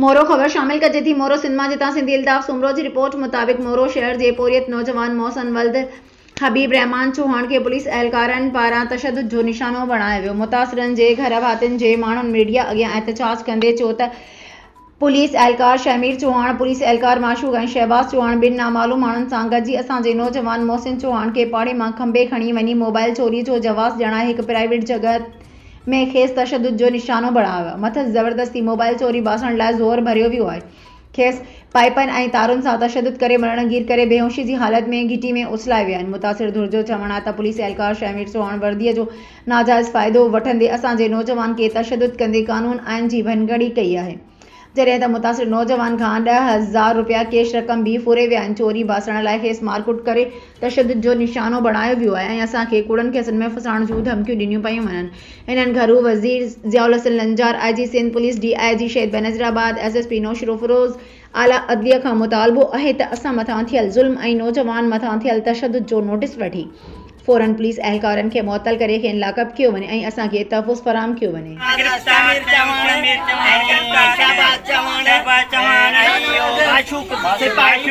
مورو، خبر شامل ڪجي ٿي مورو سنڌ مان جتان سنڌي الطاف سومرو جي رپورٽ مطابق مورو شهر جي پورهيت نوجوان محسن ولد حبيب الرحمان چوهاڻ کي پوليس اهلڪارن پاران تشدد جو نشانو بڻايو ويو متاثرن جي گهر ڀاتين جي ماڻهن ميڊيا اڳيان احتجاج ڪندي چيو ته پوليس اهلڪار شهمير چوهاڻ پوليس اهلڪار معشوق ۽ شهباز چوهاڻ ٻن نامعلوم ماڻهن سان گڏجي اسان جي نوجوان محسن چوهاڻ کي پاڙي مان کنڀي کڻي وڃي موبائل چوري جو جواز ڄڻائي هڪ پرائيويٽ جڳهه ۾ کيس تشدد جو نشانو بڻايو ويو، مٿس زبردستي موبائل چوري باسڻ لاء زور ڀريو ويو ۽ کيس پائيپن ۽ تارن سان تشدد ڪري مرڻ گير ڪري بيهوشي جي حالت ۾ گهٽي ۾ اڇلائي ويا آهن، متاثر ڌر جو چوڻ آهي ته پوليس اهلڪار شهمير چوهاڻ وردي جو ناجائز فائدو وٺندي اسان جي نوجوان کي تشدد ڪندي قانون آئين جي ڀڃڪڙي ڪئي آهي. جڏهن ته متاثر نوجوان کان ڏهه هزار رپيا ڪيش رقم به ڦري ويا آهن، چوري باسڻ لاء کيس مارڪٽ ڪري تشدد جو نشانو بڻايو ويو آهي ۽ اسان کي ڪوڙن ڪيسن ۾ ڦسائڻ جون ڌمڪيون ڏنيون پيون وڃن، هنن گهرو وزير ضياءالحسن لنجار، آء جي سنڌ پوليس، ڊي آء جي شهيد بينظير آباد، ايس ايس پي نوشروفيروز، اعليٰ عدليه کان مطالبو آهي ته اسان مٿان ٿيل ظلم ۽ نوجوان مٿان ٿيل تشدد جو نوٽيس وٺي فورن پوليس اهلڪارن کي معطل ڪري کين لاڪ اپ ڪيو وڃي ۽ اسان کي تحفظ فراهم ڪيو وڃي. سمير چوهاڻ، شهباز چوهاڻ ۽ معشوق سپاهي.